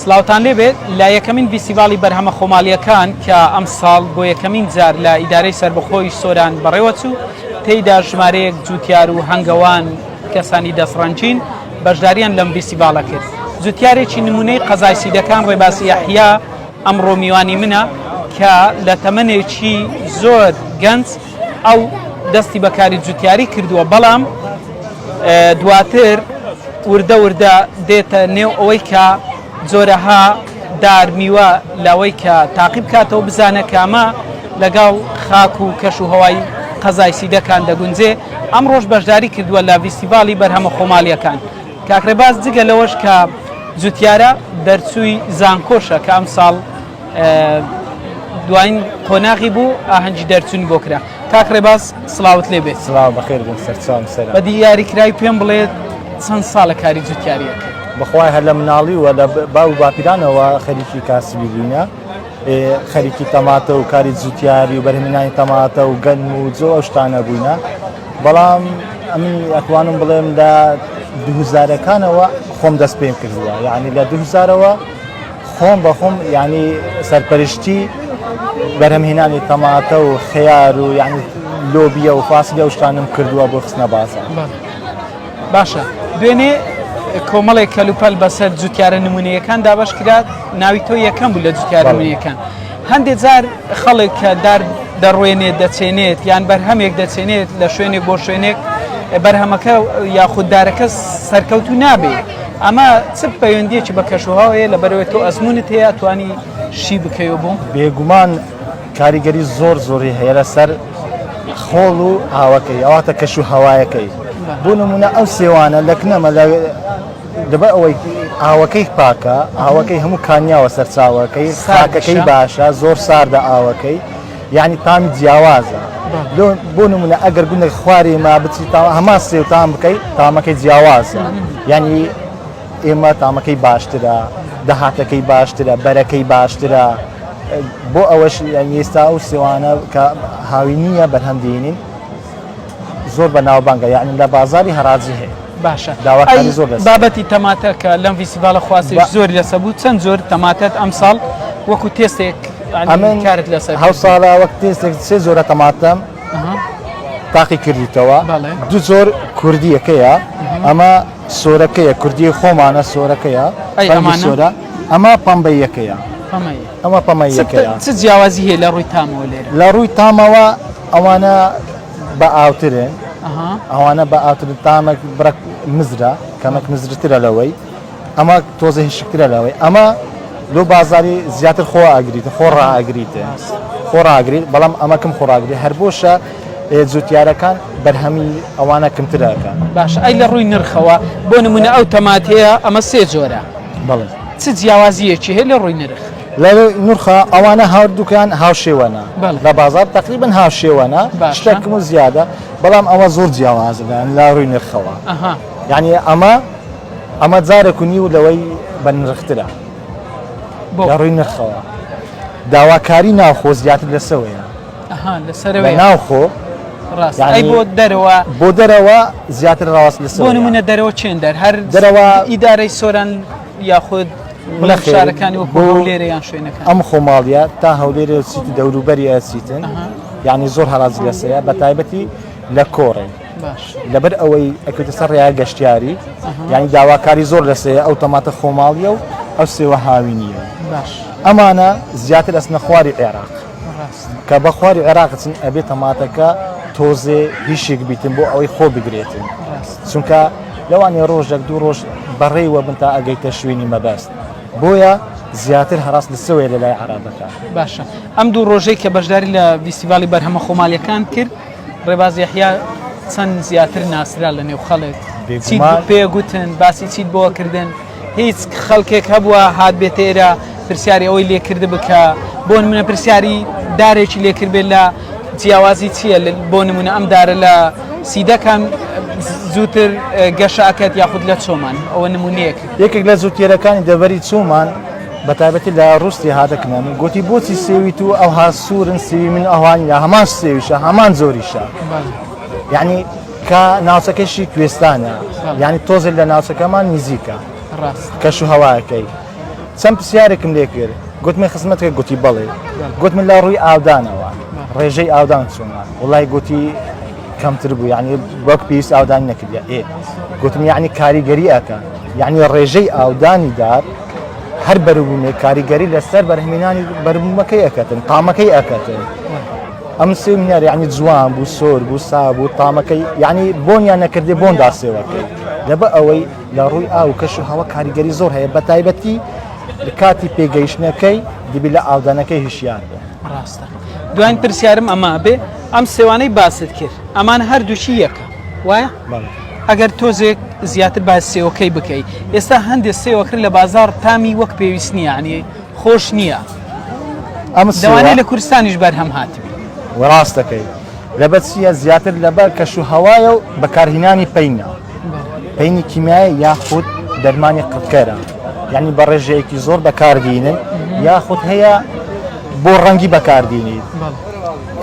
سڵاوتان لێ بێت لە یەکەمین ڤیسیڤاڵی بەرهەمە خۆماڵییەکان کە ئەمساڵ بۆ یەکەمین جار لە ئیدارەی سەربەخۆی سۆران بەڕێوەچوو تێیدا ژمارەیەک جووتیار و هەنگەوان کەسانی دەستڕەنگین بەشدارییان لەم ڤیسیڤاڵە کرد جووتیارێکی نموونەی قەزای سیدەکان ڕێباز یەحیا ئەمڕۆ میوانی منە کە لە تەمەنێکی زۆر گەنج ئەو دەستی بە کاری جوتیاری کردووە، بەڵام دواتر وردە وردە دێتە نێو ئەوەی کە جۆرەها دار میوە لەوەی کە تاقی بکاتەوە بزانە کامە لەگەڵ خاک و کەش و هەوای قەزای سیدەکان دەگونجێ ئەمڕۆژ بەشداری کردووە لە ڤیستیڤاڵی بەرهەمە خۆماڵیەکان کاک رێباز جگە لەوەش کە جوتیارە دەرچووی زانکۆشە کە ئەمساڵ دواین قۆناغی بوو ئاهەنگی دەرچوون بۆ کرا کاک ڕێباز سلااوت لێ بێت سلااو بەخێر بوو سەرچوان سەر بە دیاری کرای پێم بڵێت چەند ساڵە کاری جوتیاریەک بەخوای هەر لە مناڵی و لە باو باپیرانەوە خەریکی کاسبی بووینە خەریکی تەماتە و کاری جوتیاری و بەرهمنانی تەماتە و گەن و جۆ شتانە بووینە بەڵام ئەمنی ئەتوانم بڵێم لە دوهزارەکانەوە خۆم دەست پێم کردووە یعنی لە دوهزارەوە خۆم بەخۆم یانی سەرپەرشتی بەرهەمهێنانی تەماتە و خەیار و یعنی لۆبیە و فاسیلە و شتانم کردووە بۆ خستنە بازار باشە دوێنێ کۆمەڵێک کەلوپەل بەسەر جوتیارە نمونونەکان دابش کرات ناوی تۆ یەکەم بوو لە جوتیارەکان هەندێک جار خەڵک کە دار دەڕوێنێت دەچێنێت یان بەرهەمێک دەچێنێت لە شوێنێک بۆ شوێنێک بەرهەمەکە یاخوددارەکە سەرکەوتو نابێت ئەمە چ پەیوەندیەکی بە کەشوهوا هەیە لە بەرەوەی تۆ ئەزمونت هەیە توانی شی بکەوە بوو بێگومان کاریگەری زۆر زۆری هەیە لەسەر خۆڵ و ئاوەکەی ئەواتە کەش و هەوایەکەی بۆ نمونە ئەو سێوانە لەکنەمە لە دەبە ئەوەی ئاوەکەی پاکە ئاوەکەی هەموو کانیاوە سەرچاوەکەی ساکەکەی باشە زۆر ساردە ئاوەکەی یانی تامی جیاوازە بۆ نمونە ئەگەر گوندێک خوارێ ما بچی تا هەما سێ و تام بکەیت تامەکەی جیاوازە یعنی ئێمە تامەکەی باشترە دەهاتەکەی باشترە بەرەکەی باشترە بۆ ئەوەش ئێستا و سێوانە کە هاوی نییە بەرهەم دێنین زۆر بەناوبانگە یعنی لە بازاری هەراجی هەیە باشە داواکاری زۆر دەست بابەتی تەماتە کە لەم ڤیسیڤالە خواستی زۆر لەسە بوو چەند زۆر تەماتەت ئەم ساڵ وەکو تێستێک ئەمن کارت لەسەر هەو ساڵە وەک تێستێک سێ زۆرە تەماتەم تاقی کردیتەوە دو زۆر کوردیەکەیە ئەمە سۆرەکەیە کوردی خۆمانە سۆرەکەیە سۆرە ئەمە پەمبەیەکەیە ئەمە پەمەی یەکەیە. چ جیاوازی هەیە لە ڕووی تامەوە لێرە؟ لە ڕووی تامەوە ئەوانە بە ئاوترێن ئەوانە بە ئاوتر تامەک بڕک مزرە کەمەک مزرترە لەوەی ئەمە تۆزە هشکترە لەوەی ئەمە لۆ بازاری زیاتر خۆ ئاگریت خۆ ڕاگریت خۆ ڕاگریت بەڵام ئەمەکەم خۆراگری هەر بۆشە جوتیارەکان بەرهەمی ئەوانە کمترەکە باش ئەی لە ڕووی نرخەوە بۆ نمونە ئەو تەماتەیە ئەمە سێ جۆرە بڵێ چ جیاوازییەکی هەیە لە ڕووی نرخ؟ لە ڕووی نرخا ئەوانە هەردووکیان هاوشێوەنە، لە بازاڕ تەقریبەن هاوشێوەنە، شتێک کم و زیادە، بەڵام ئەوە زۆر جیاوازە لە ڕووی نرخەوە. یەعنی ئەمە ئەمە جارێک و نیو لەوەی بەنرخترە لە ڕووی نرخەوە. داواکاری ناوخۆ زیاتر لەسەوەیە. لە ناوخۆ دەرەوە بۆ دەرەوە زیاتر ڕاست لە سۆ منە دەرەوە چێن دەر هەر دەرەوە ئیدارەی سۆران یاخود لە خێرەکانی وەکو لێرە یان شوێنەکە ئەم خۆماڵە تا هەولێرە سیتی دەوروبەری ئەسیتن یعنی زۆر هەراز لەسەیە بە تایبەتی لە کۆڕێ لەبەر ئەوەی ئەکوتە سەر ڕای گەشتیاری یعنی داواکاری زۆر لەسەیە ئەو تەماتە خۆماڵیە و ئەو سێوە هاوینیە ئەمانە زیاتر ئەس نەخواری عێراق کە بە خواری عێراق چن ئەبێ تەماتەکە تۆزێ هیشێک بیتن بۆ ئەوەی خۆ بگرێتن چونکە لەوانێ ڕۆژێک دوو ڕۆژ بەڕێوە بن تا ئەگەیتە شوێنی مەبەست بۆیە زیاتر هەراست لە سوێ لە لای عرابەکە باشە ئەم دوو ڕۆژەی کە بەشداری لە ویسیڤالی بەرهەمە خۆمالیەکان کرد ڕێبازیحیا چەند زیاتر ناسرا لە نێو خەڵێت پێ گوتن باسی چیت بۆ کردن هیچ خەلکێک هەبووە هات بێتە ئێرە پرسیاری ئەوەی لێکردبێ کە بۆ نمونە پرسیاری دارێکی لێکردبێت لە جیاوازی چییە بۆ نمونە ئەم دارە لە سیدەکان زووتر گەشاکەت یاخود لە چۆمان ئەوە نمونەیەک یەکێک لە زووتێرەکانی دەبەری چۆمان بە تایبەتی لە ڕوستی هادەکنەن گوتی بۆچی سێویت و ئەوها سوورن سوی من ئەوانی لە هەمان سێویشە هەمان زۆریشە یعنی کە ناوچەکەشی کوێستانە یانی تۆزێک لە ناوچەکەمان نزیکە کەش و هەواکەی چەند پرسیارێکم لێ کرد گوتمە خزمەتێ گوتی بەڵێ گوت من لە ڕووی ئاودانەوە ڕێژەی ئاودان چۆنە وڵای گوتی کەمتر بوو یعنی وەک پێویست ئاودان نەکردە ئێ گوتم یعنی کاریگەری ئەکە یعنی ڕێژەی ئاودانی دار هەر بەروبوومێ کاریگەری لەسەر بەرهمینانی بەرمەکەی ئەکەتن قامەکەی ئەکەتن ئەم سیمینار یعنی جوان بوو سۆر بوو سا بوو تامەکەی یعنی بۆنیان نەکردێ بۆن داسێوەکەی لەبە ئەوەی لە ڕووی ئاو کەش و هەوە کاریگەری زۆر هەیە بە تایبەتی کاتی پێگەیشتنەکەی دیبی لە ئاودانەکەی هشیار بێ ڕاستە دوایین پرسیارم ئەما بێ ئەم سێوانەی باست کرد ئەمان هەردووچی یەکە وایە ئەگەر تۆزێک زیاتر با سێوەکەی بکەیت ئێستا هەندێک سێوەکرد لە بازار تامی وەک پێویست نییانی خۆش نییە لەوانەیە لە کورستانیش بەرهەم هاتبی. وەڕاست دەکەی لەبەر چییە زیاتر لەبەر کەش و هەوایە و بەکارهینانی پینە پینی کیمیایی یاخود دەرمانی قڕکەرە یعنی بە ڕێژەیەکی زۆر بەکاردینن یاخود هەیە بۆ ڕەنگی بەکاردینی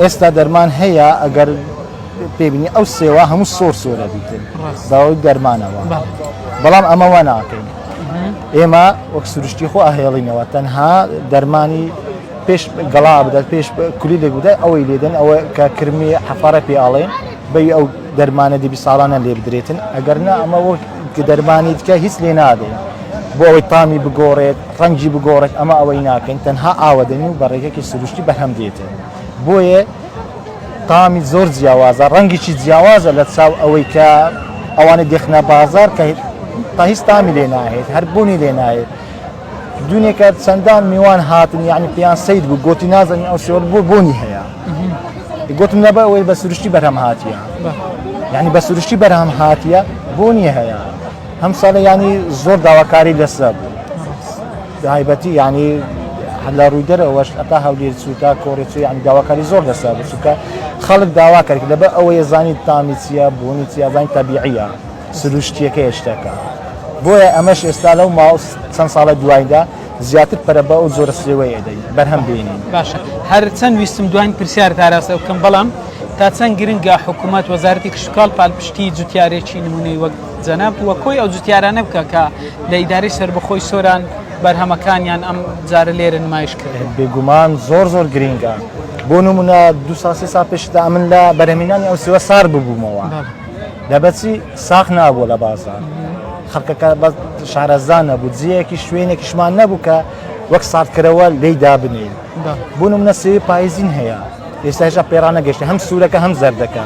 ئێستا دەرمان هەیە ئەگەر پێبینی ئەو سێوە هەموو سۆر سۆرە بیتن باوەی دەرمانەوە بەڵام ئەمەوە ناکەین ئێمە وەک سروشتی خۆ ئاهێڵینەوە تەنها دەرمانی پێش گەڵا بدات پێش کولی لێک بدات ئەوەی لێدەن ئەوە کە کرمی حەفارە پێ ئاڵێن بەی ئەو دەرمانە دیبی ساڵانە لێ بدرێتن ئەگەر نا ئەمە وەک دەرمانی دیکە هیچ لێ نادەین بۆ ئەوەی تامی بگۆڕێت ڕەنگی بگۆڕێت ئەمە ئەوەی ناکەین تەنها ئاوەدەنی و بەڕێگەکی سروشتی بەرهەم دێتن. بۆیە تامی زۆر جیاوازە ڕەنگیی جیاوازە لە چاو ئەوەی کە ئەوانە دەخنە بازار کە تا هیچ تامی لێ ناهێت هەر بوونی لێ نایێت دونێکە چەندان میوان هاتن یعنی پێیان سید بوو گوتی نازانین ئەو شێوە بۆ بوونی هەیە گوتم نەبە ئەوەی بە سروشتی بەرهەم هااتە یعنی بە سروشتی بەرهەم هااتە بوونی هەیە ئەم ساڵە ینی زۆر داواکاری لەسرا بوو دایبەتی ینی لە ڕووی دەرەوەش ئەتا هەولێر سووتا کۆرێچ یان داواکاری زۆر لەسرا بوو چونکە خەڵک داوا کرد لەبە ئەوەیە زانانی تامی چیە بوونی چیازانی تەبیعە سروشتیەکە هێشتەکە بۆیە ئەمەش ئێستا لەو ماوە چەند ساڵە دوایدا زیاتر پەرە بە ئەو زۆرە سرێوەیە دەین بەرهەم بینین باشە هەر چەند ویستم دوین پرسیار تاراستە بکەم بەڵام تا چەند گرنگە حکوومەت وەزارەتی کشتتوکال پالپشتی جوتیارێکی نمونەی وەک جەنابت وە کۆی ئەو جوتیارانە بکە کە لە ئیدارەی سەربەخۆی سۆران بەرهەمەکانیان ئەم جارە لێرە نمایش کردوە. بێگومان زۆر زۆر گرینگە بۆ نمونە دو سا سێ سا پێشدا ئەمن لە بەرهەمینانی ئەو سێوە سارد ببومەوە دەبەچی ساخ نابوە لە بازار خەڵکەکە بە شارەزا نەبوو جیەکی شوێنێکیشمان نەبوو کە وەک ساردکەرەوە لی دابنین بۆ نمونە سێوی پایزین هەیە ئێستا هێشا پێڕانەگەشتە هەم سوورەکە هەم زەردەکە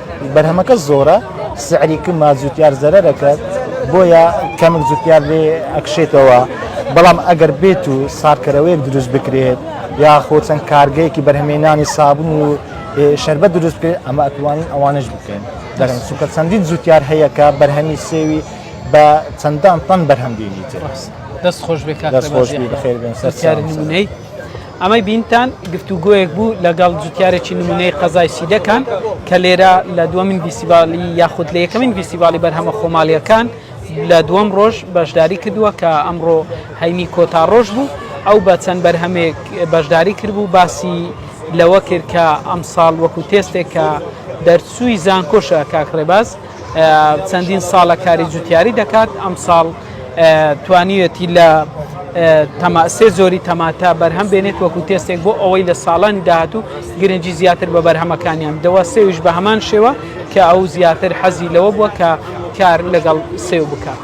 بەرهەمەکە زۆرە سعری کمە جوتیار زەرەر دەکات بۆیە کەمک جوتیار لێ ئەکشێتەوە بەڵام ئەگەر بێت و سارکەرەوەیەک دروست بکرێت یاخۆ چەند کارگەیەکی بەرهەمێنانی سابن و شربەت دروست بکرێت ئەمە ئەتوانین ئەوانش بکەین دەرم سوکە چەندین جوتیار هەیەکە بەرهەمی سێوی بە چەندان تەن بەرهەم دێنیتر دەست خۆش بێ کاک دەست خۆش بی بەخێر بێن سەر سیاری نمونەی ئەمەی بینتان گفتوگۆیەک بوو لەگەڵ جوتیارێکی نمونەی قەزای سیدەکان کە لێرە لە دووەمین ڤیسیڤالی یاخود لە یەکەمین ڤیسیڤالی بەرهەمە خۆماڵیەکان لە دووەم ڕۆژ بەشداری کردووە کە ئەمڕۆ هەینی کۆتا ڕۆژ بوو ئەو بە چەند بەرهەمێک بەشداری کردبوو باسی لەوە کرد کە ئەمساڵ وەکو تێستێک کە دەرچووی زانکۆشە کاک ڕێباز چەندین ساڵە کاری جوتیاری دەکات ئەم ساڵ توانیوێتی لە سێ زۆری تەماتە بەرهەم بێنێت وەکو تێستێک بۆ ئەوەی لە ساڵانی داهاتوو گرنگجی زیاتر بە بەرهەمەکانیان دەوە سێویش بە هەمان شێوە کە ئەو زیاتر حەزی لەوە بووە کە کار لەگەڵ سێو بکات.